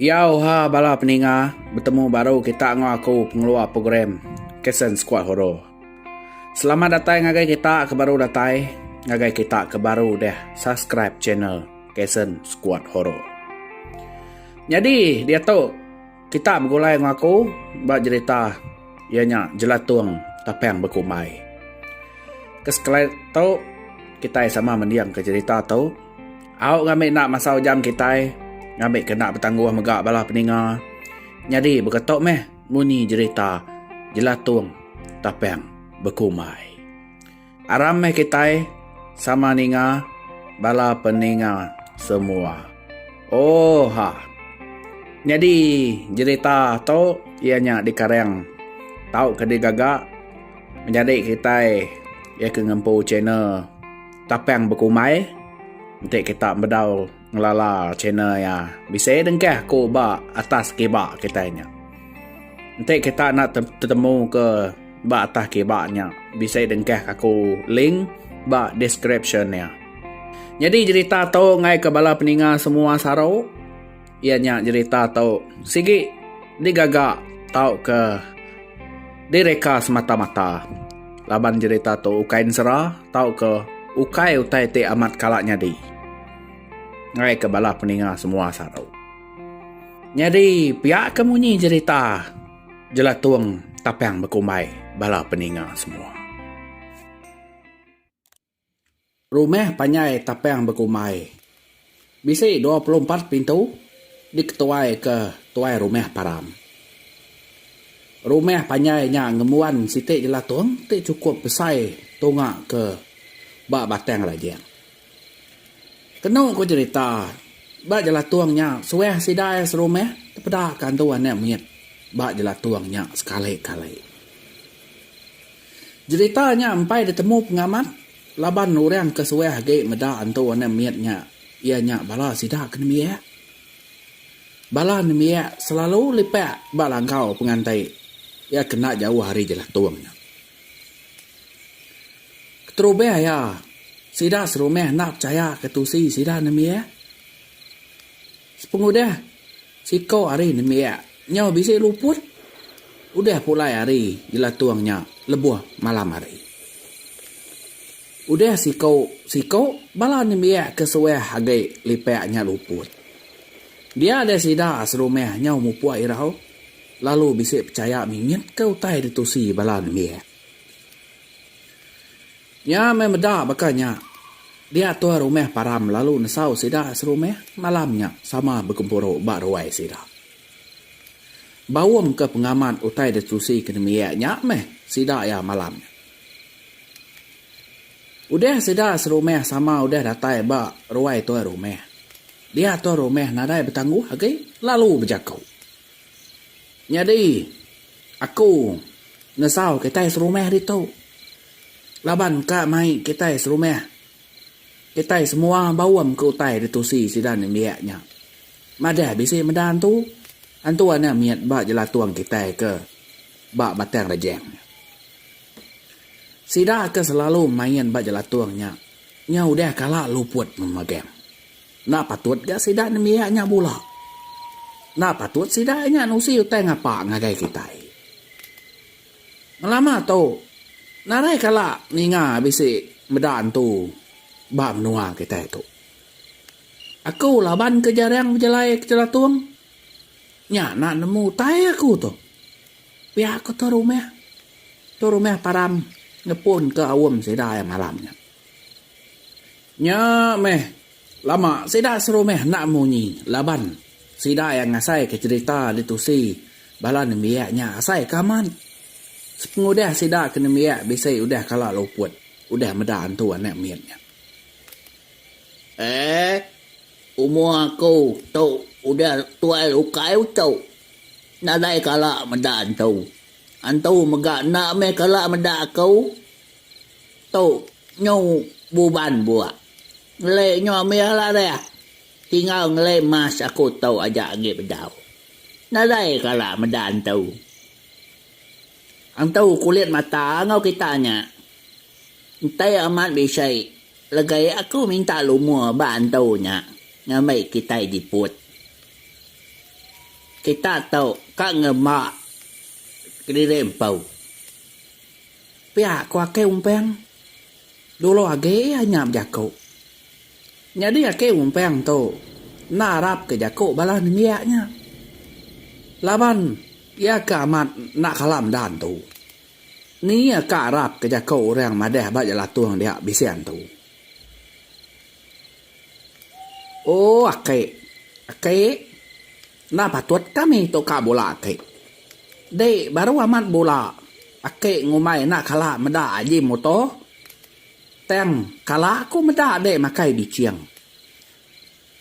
Iya uha bala peninga betemu baru kita enggau aku pengeluar program Kesn Squad Horo. Selamat datai ngagai kita ke baru datai, ngagai kita ke baru deh subscribe channel Kesn Squad Horo. Nyadi diatu kita begulai enggau aku ba jerita iya nya Jelatung Tapang Bekumbai. Ke sekali tu kitai sama mendingka jerita tu. Au ngambi enda masa ujam kitai ngambi kena betangguh mega bala peninga. Nyadi baka tu meh munyi jerita Jelatung Tapang Bekumbai. Aram meh kitai sama ninga bala peninga semua. Oh ha. Nyadi jerita tu iya nya dikarang tauka digaga menjadi kitai iya ke ngempu channel. Tapang bekumai enti kita bedau ngelala channel iya bisi dengkah ku ba atas kiba kitai nya. Enti kita enda tetemu ke ba atas kiba nya bisi dengkah aku link ba description iya. Nyadi jerita tu ngaika bala peninga semua saru. Iya nya jerita tu sigi digaga tauka direka semata-mata laban jerita tu ukai ensera tauka ukai utai ti amat kala nyadi ngaika bala peninga semua saru. Nyadi pia ke munyi jerita Jelatung Tapang Bekumbai bala peninga semua. Rumah panjai tapang bekumbai. Bisi dua puluh empat pintu diketuaika tuai rumah param. Rumah panjai nya ngembuan siti jelatung ti chukup besai tunga ke ba Batang Rajang. Kenu ku cherita, ba jelatung nya suah sida iya serumah tepedaka antu anak mit ba jelatung nya sekali-kali. Jerita nya empai ditemu pengamat laban orang ke suah agi meda Entu Anak Mit nya iya nya bala sida ke nembiak. Bala nembiak selalu lipak ba langkau penganti iya ke enda jauh ari jelatung nya. Keterubah iya, sida serumah enda pechayaka tusi sida nembiak. Sepengudah siko hari nembiak nyau bisi luput, udah pulai hari jelatung nya lebuh malam hari. Udah siko siko bala nembiak ke suah agi lipak nya luput. Dia deh sida serumah nyau mupuk irau lalu bisi pechaya mingit ke utai ditusi bala nembiak. Nya meh meda baka nya. Dia tuai rumah Param lalu nesau sida serumah malam nya sama begempuru ba ruai sida. Baum ke pengamat utai ditusi ke nembiak nya meh sida iya malam nya. Udah sida serumah sama udah datai ba ruai tuai rumah, dia tuai rumah nadai betangguh agi lalu bejaku. Nyadi, aku ngesau kitai serumah ditu laban ka mai kitai serumah. Kitai semua baum ke utai ditusi sida nembiak nya. Madah bisi meda antu, antu enda mit ba jelatung kitai ke ba Batang Rejang nya. Sida ke selalu main ba jelatung nya, nya udah kala luput memagang. Enda patut ga sida nembiak nya bula. Enda patut sida nya nusi utai ngapa ngagai kitai. Ngelama tu, narai kala ninga bisi meda antu ba menua kitai tu. Aku laban ke jarang bejalai ke Jelatung, nya enda nemu utai aku tu. Pia ku Tua Rumah. Tua Rumah Param ngepunka aum sida iya malam nya. Nya meh lama sida seru meh enda munyi laban sida iya ngasaika cherita ditusi bala nembiak nya asai ke amat. Sepengudah sida ke nembiak bisi udah kala luput udah meda antu anak mit nya. Eeh umur aku tu udah tuai ukai uchu nadai kala meda antu. Antu mega enda meh kala meda aku. Tu nyu buban bua. Ngele nyu ambil lah deh. Tinggal ngele mas aku tu aja agi bedau. Nadai kala meda entu. Entu kulit mata enggau kita nya. Enti amat bisi legai aku minta lumur ba entu nya ngambi kitai jiput. Kita tu ka ngemba kediri empu. Pia ku Akei Umpang. Dulu agi iya nya bejaku. Nyadi Akei Umpang tu enda arapka jaku bala nembiak nya. Laban iya ke amat enda kala medan tu. Ni iya ka arapka jaku orang madah ba Jelatung dia Bising tu. Oh Akei. Akei. Enda patut kami tukar bola ati. Di baru amat bola aki ngumbai enda kala meda aji muto. Tang kala aku meda dek makai biching.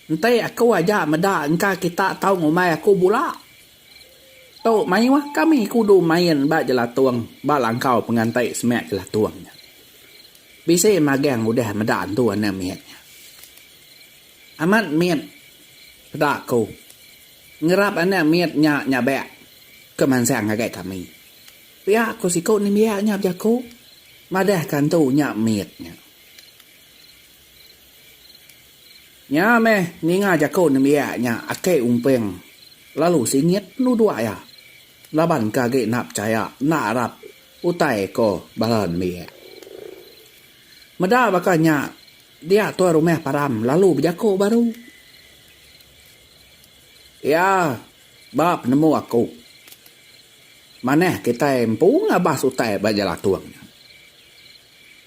Enti aku aja meda engka kita tau ngumbai aku bola. Tu mayuh kami kudu main ba jelatung ba langkau penganti semak jelatung nya. Bisi magang udah meda antu anak mit nya. Amat mit, peda aku. Ngerap anak mit nya nyabak ke mansang ngagai kami. Pia ku siku nembiak nya bejaku madahka entu nya mit nya. Nya meh ninga jaku nembiak nya Akei Umping lalu singit penuduk iya laban ke agi enda pechaya enda arap utai ko bala nembiak. Meda baka nya Dia tuai rumah param lalu bejako baru. Iya ba penemu aku. Manah kitai empu ngabas utai ba Jalatung nya.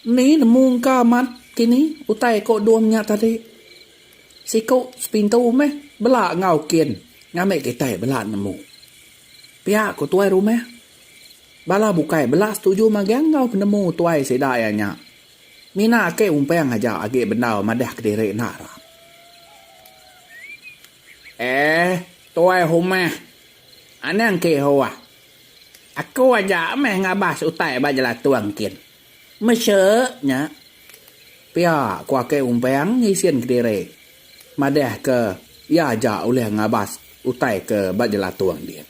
Mni nemu engka amat kini utai ko Dung nya tadi. Siko sepintu meh bela enggau kin ngambi kitai bela nemu. Pia ko tuai rumah. Bala bukai bela setuju magang enggau penemu tuai sida iya nya Mina ake umpang aja agi bendar madah kediri enda Ram. Eh tuai humah. Anang ke hua. Aku aja meh ngabas utai ba jelatung kin. Mesek nya. Pia ku ake umpang ngisin kediri madah ke iya aja ulih ngabas utai ke ba jelatung din.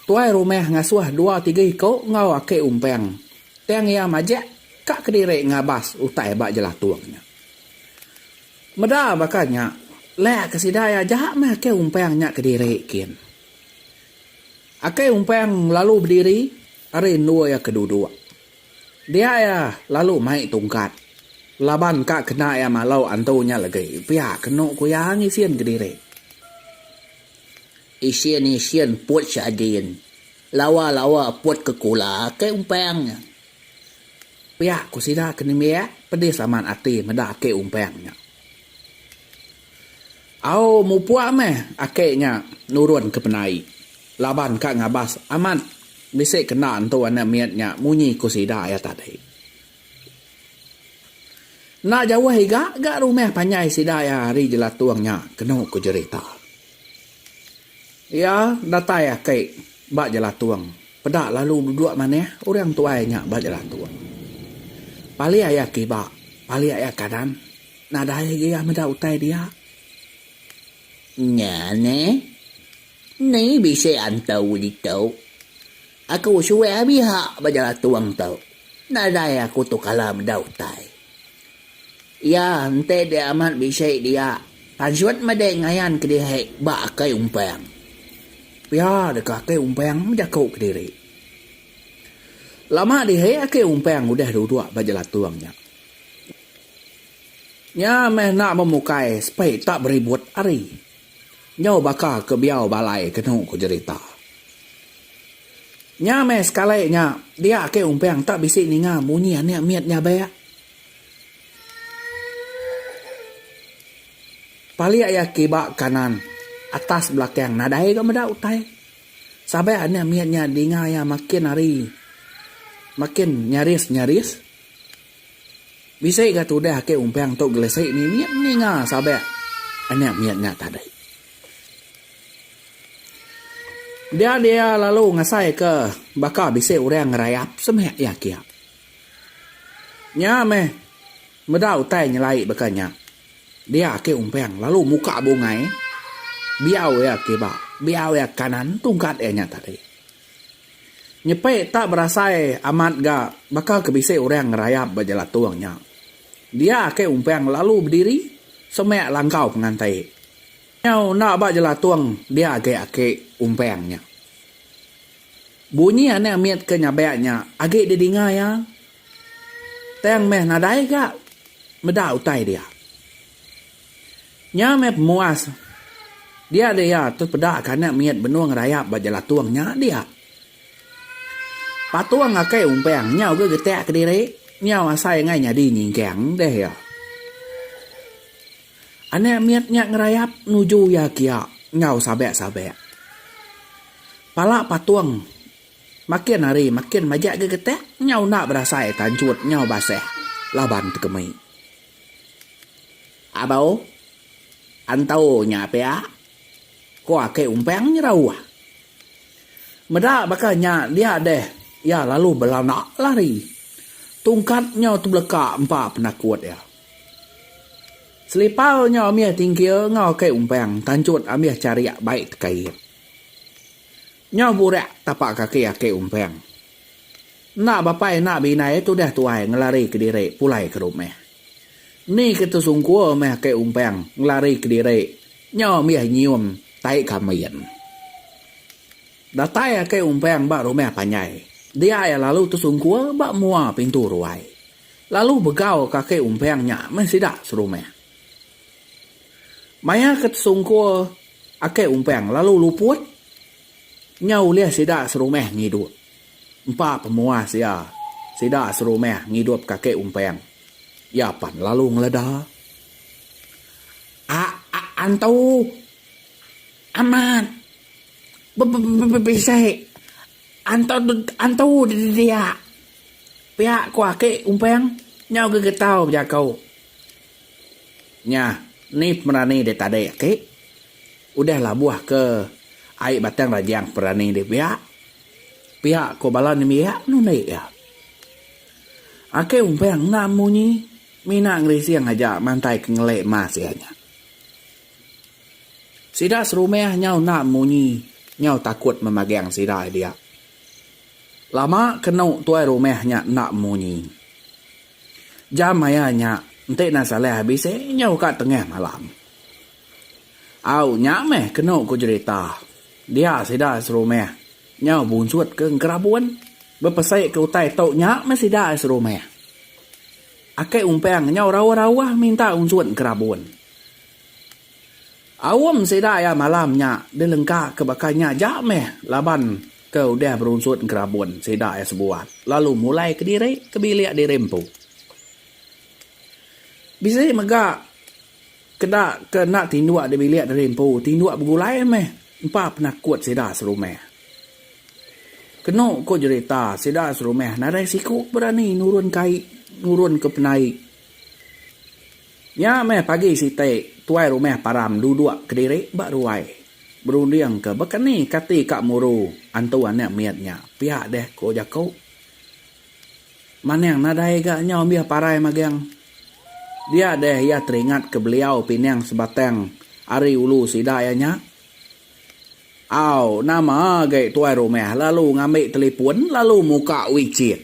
Tuai rumah ngasuh dua tiga iku enggau aki umpang tang iya majak ka kediri ngabas utai ba jelatung nya. Meda baka nya, lek ke sida iya aja meh aki umpang nya kediri kin. Aki umpang lalu bediri ari endur iya ke duduk. Dia iya lalu mai tungkat laban ka kena iya malau antu nya legi pia kenu ku iya ngisin kediri. Isin isin put sadin. Lawa lawa put ke kula ke umpang nya. Pia ku sida ke nembiak pedis amat ati meda ake umpang nya. Au mupuk meh ake nya nurun ke penai. Laban ka ngabas amat bisi kena entu anak mit nya munyi ku sida iya tadi. Enda jauh iga ga rumah panjai sida iya ari Jelatung nya kenu ku jerita. Iya datai aki ba Jelatung peda lalu duduk manah orang tuai nya ba Jelatung. Palik iya kiba, palik iya kanan nadai agi iya meda utai dia. Nya neh. Ni bisi antu ditu. Aku suwek abi ha ba jala tuang tu. Nadai aku tu kala meda utai. Iya enti dia amat bisi dia pansut meda ngayan kedihi ba akai umpang. Pia deka akai umpang mejaku kediri. Lama dihi akai umpang udah duduk ba jala tuang nya. Nya meh enda memukai sepi tak beribut ari. Nyau baka ke biau balai kenu ku jerita. Nya meh sekali nya dia ake umpang tak bisi ninga munyi anek mit nyabek. Palik iya kiba kanan atas belakang nadai ga meda utai. Sabak anek mit nya dinga iya makin hari makin nyaris-nyaris. Bisi ga tudah ake umpang tu gelesi ni mit ninga sabak anak mit nya tadi. Dia dia lalu ngasai ke baka bisi orang ngerayap semak iya kia. Nya meh meda utai nyelai baka nya. Dia ake umpang lalu muka bungai biau iya kiba biau iya kanan tungkat iya nya tadi. Nyepi tak berasai amat ga baka ke bisi orang ngerayap ba jelatung nya. Dia ake umpang lalu bediri semak langkau penganti. Nyau enda ba jelatung dia agi ake umpang nya. Bunyi anak mit ke nyabak nya agi didinga iya tang meh nadai ga meda utai dia. Nya meh pemuas. Dia deh iya tu peda ka anak mit benung rayap ba Jelatung nya dia. Patung akai umpang nyau ga getak kediri nyau asai angai nyadi nyingkang deh iya. Anak mit nya ngerayap nuju iya kia nyau sabak-sabak. Pala patung makin hari makin majak ga getak nyau enda berasai tanchut nyau basah laban tekemi. Abau, Antau nya pia, ku aki Umpang nyerau. Meda baka nya dia deh iya lalu belanda lari. Tungkat nyau tebeleka empa penakut iya. Selipar nyau amih tingkir enggau aki Umpang tanchut amih charik bai tekait. Nyau burak tapak kaki aki Umpang. Enda bapai enda bindai tudah tuai ngelari kediri pulai ke rumah. Ni ke tesungkur meh aki Umpang ngelari kediri nyau mih nyium tai kambin. Datai aki Umpang ba rumah panjai, dia iya lalu tesungkur ba mua pintu ruai. Lalu begau ka aki Umpang nya meh sida serumah. Maya ke tesungkur akai umpang lalu luput nyau ulih sida serumah ngidup empa pemuas iya sida serumah ngidup ka akai umpang iya pan lalu ngeleda antu amat bisi antu dia pia ko aki umpang nyau gegetau bejaku. Nya, ni pemerani dek tadi aki. Udah labuh ke ai batang rajang perani dek biak. Piak ko bala nembiak nundi iya. Aki umpang enda munyi mina ngerising aja mantai ke ngelik mas iya nya. Sida serumah nyau enda munyi nyau takut memagang sida diak. Lama kenu tuai rumah nya enda munyi. Jam maya nya enti nang salai habis eh nyau ka tengah malam. Au nya meh kenu ku jerita dia sida serumah nyau bunsut ke Engkerabun bepesai ke utai tu nya meh sida serumah. Akai Umpang nyau rawah-rawah minta unsut Engkerabun. Aum sida iya malam nya dilengka ke baka nya aja meh laban ke udah berunsut ngerabun sida iya sebuat lalu mulai kediri ke bilik diri empu. Bisi mega ke da ke enda tinduk di bilik diri empu tinduk begulai meh empa penakut sida serumah. Kenu ku jerita sida serumah nadai siku berani nurun kai nurun ke penai. Nya meh pagi siti, tuai rumah Param duduk kediri ba ruai, berundingka baka ni kati ka muru antu anak mit nya pia deh ko jaku. Manang nadai ga nyau ambih parai magang. Dia deh iya teringatka beliau pinang sebatang ari ulu sida iya nya. Au, nama agi tuai rumah lalu ngambi telipun lalu muka wicit.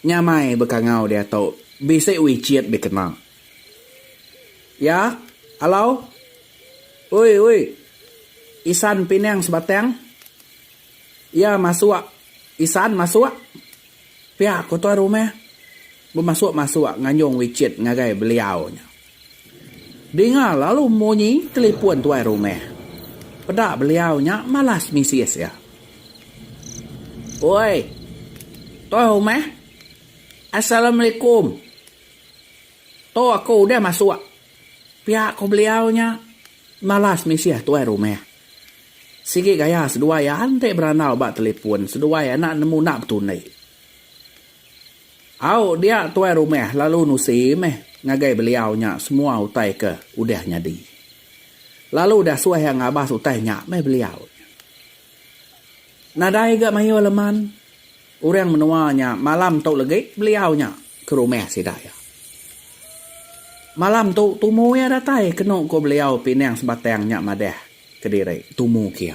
Nyamai bekangau diatu bisi wicit dikena. Ya, alo. Ui ui. Isan pinang sebatang. Ya masuk. Isan masuk. Pia ku tuai rumah. Bemasuk-masuk nganjung wicit ngagai beliau nya. Dinga lalu munyi telipun tuai rumah. Peda beliau nya malas misis iya. Oi. Tuai rumah. Assalamualaikum. Tu aku udah masuk. Pia ku beliau nya malas misis tuai rumah. Sigi gaya seduai iya enti berandau ba telipun seduai anak nemu enda betundi. Au dia tuai rumah lalu nusi meh ngagai beliau nya semua utai ke udah nyadi. Lalu udah suah iya ngabas utai nya meh beliau nya. Nadai ga mayuh leman orang menua nya malam tu legi beliau nya ke rumah sida iya. Malam tu tumu iya datai kenu ku beliau pinang sebatang nya madah kediri tumu kia.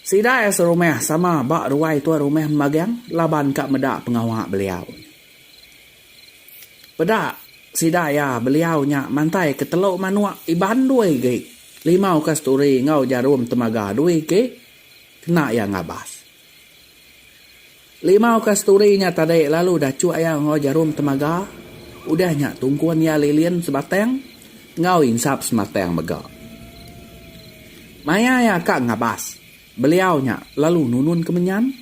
Sida iya serumah sama ba ruai tuan rumah Mbagang laban ka meda pengawa beliau. Peda sida iya beliau nya mantai ke telu manuk Iban dui gig, limau kasturi enggau jarum temaga dui gig kena iya ngabas. Limau kasturi nya tadi lalu dachuk iya enggau jarum temaga, udah nya tungkun iya lilin sebatang enggau insap sematang mega. Maya iya ka ngabas, beliau nya lalu nunun ke menyan.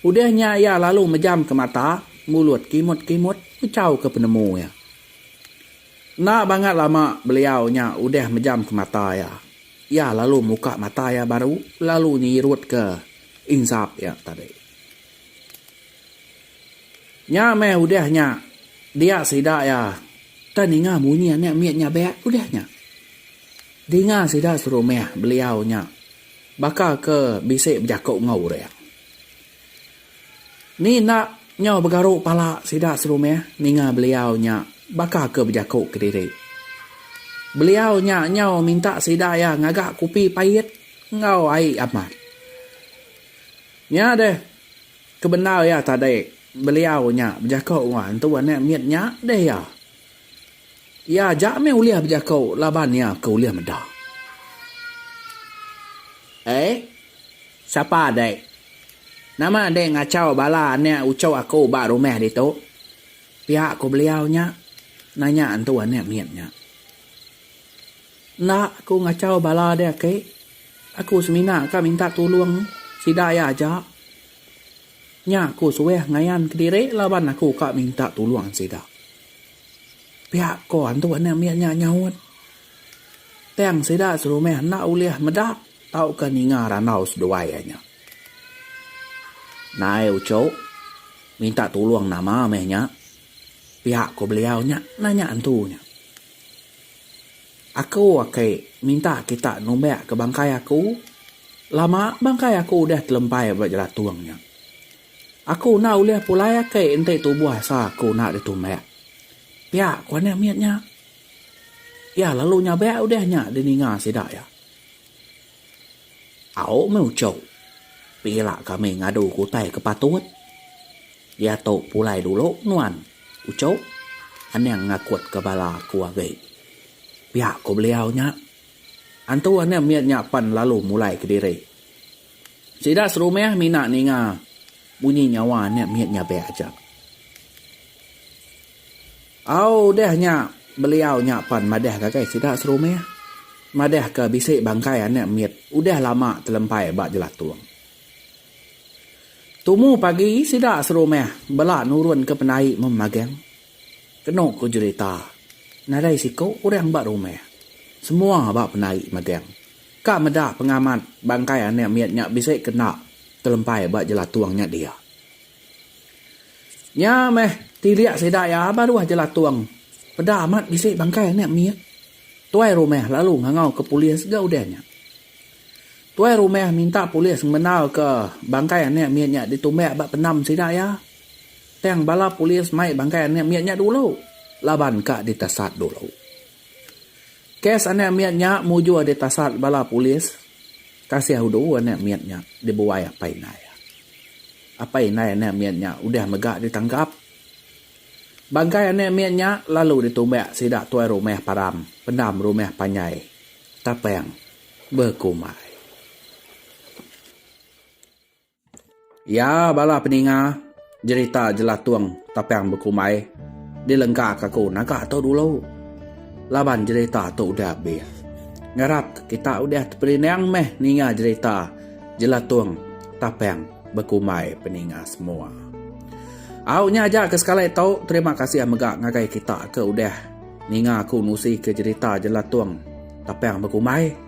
Udah nya iya lalu mejamka mata mulut kimut-kimut mechauka penemu iya. Enda bangat lama beliau nya udah mejamka mata iya. Iya lalu muka mata iya baru lalu nyirutka insap iya tadi. Nya meh udah nya dia sida iya teh ninga munyi anak mit nyabak udah nya. Dinga sida serumah beliau nya baka ke bisi bejako enggau orang. Ni enda nyau begaru pala sida serumah ninga beliau nya baka ke bejaku kediri. Beliau nya nyau minta sida iya ngaga kopi pait enggau ai amat. Nya deh ke bendar iya tadi beliau nya bejaku enggau hantu anak mit nya deh iya. Iya aja meh ulih bejako laban iya ke ulih meda. Ei. Sapa dek. Nama dek ngachau bala anek uchu aku ba rumah ditu? Pia ku beliau nya nanya entu anek mit nya. Enda aku ngachau bala dek aki. Aku semina ka minta tulung sida iya aja. Nya aku suah ngayan kediri laban aku ka minta tulung sida. Pia ko antu anak mia nya nyaut. Tang sida serumah enda ulih meda tauka ninga randau seduai iya nya. Nai uchu minta tulung nama meh nya? pia ko beliau nya nanya antu nya. Aku ake minta kita numbak ke bangkai aku. Lama bangkai aku udah telempai ba jelatung nya. Aku enda ulih pulai ake enti tubuh asa aku enda ditumbak. Pia ku anak mit nya. Iya lalu nyabak udah nya dininga sida iya. Au meh uchu. Pila kami ngadu ke utai ke patut. Diatu pulai dulu nuan uchu. Anang ngakutka bala aku agi. Pia ku beliau nya. Antu anak mit nya pan lalu mulai kediri. Sida serumah mina ninga bunyi nyawa anak mit nya pia aja. Au udah nya beliau nya pan madah ngagai sida serumah madah ke bisi bangkai anak mit udah lama telempai ba jelatung. Tumu pagi sida serumah bela nurun ke pendai meh magang. Kenu ku jerita nadai siku orang ba rumah semua ba pendai magang. Ka meda pengamat bangkai anak mit nya bisi kena telempai ba jelatung nya dia. Nya meh tilik sida iya baruh jelatung peda amat bisi bangkai anak mit. Tuai rumah lalu ngangau ke polis ga udah nya. Tuai rumah minta polis ngemendar ke bangkai anak mit nya ditumbak ba pendam sida iya. Tang bala polis mai bangkai anak mit nya dulu laban ka ditasat dulu. Kes anak mit nya mujur ditasat bala polis kasih udu anak mit nya dibuai apai indai. Apai indai anak mit nya udah mega ditangkap. Bangkai anak mit nya lalu ditumbak sida tuai rumah param pendam rumah panjai Tapang bekumbai. Iya bala peninga jerita jelatung tapang bekumbai dilengkaka aku naga tu dulu laban jerita tu udah habis. Ngarap kita udah teperinang meh ninga jerita jelatung tapang bekumbai peninga semua. Au nya aja ke sekali tu terima kasih mega ngagai kita ke udah ninga aku nusi ke jerita jelatung tapang bekumbai.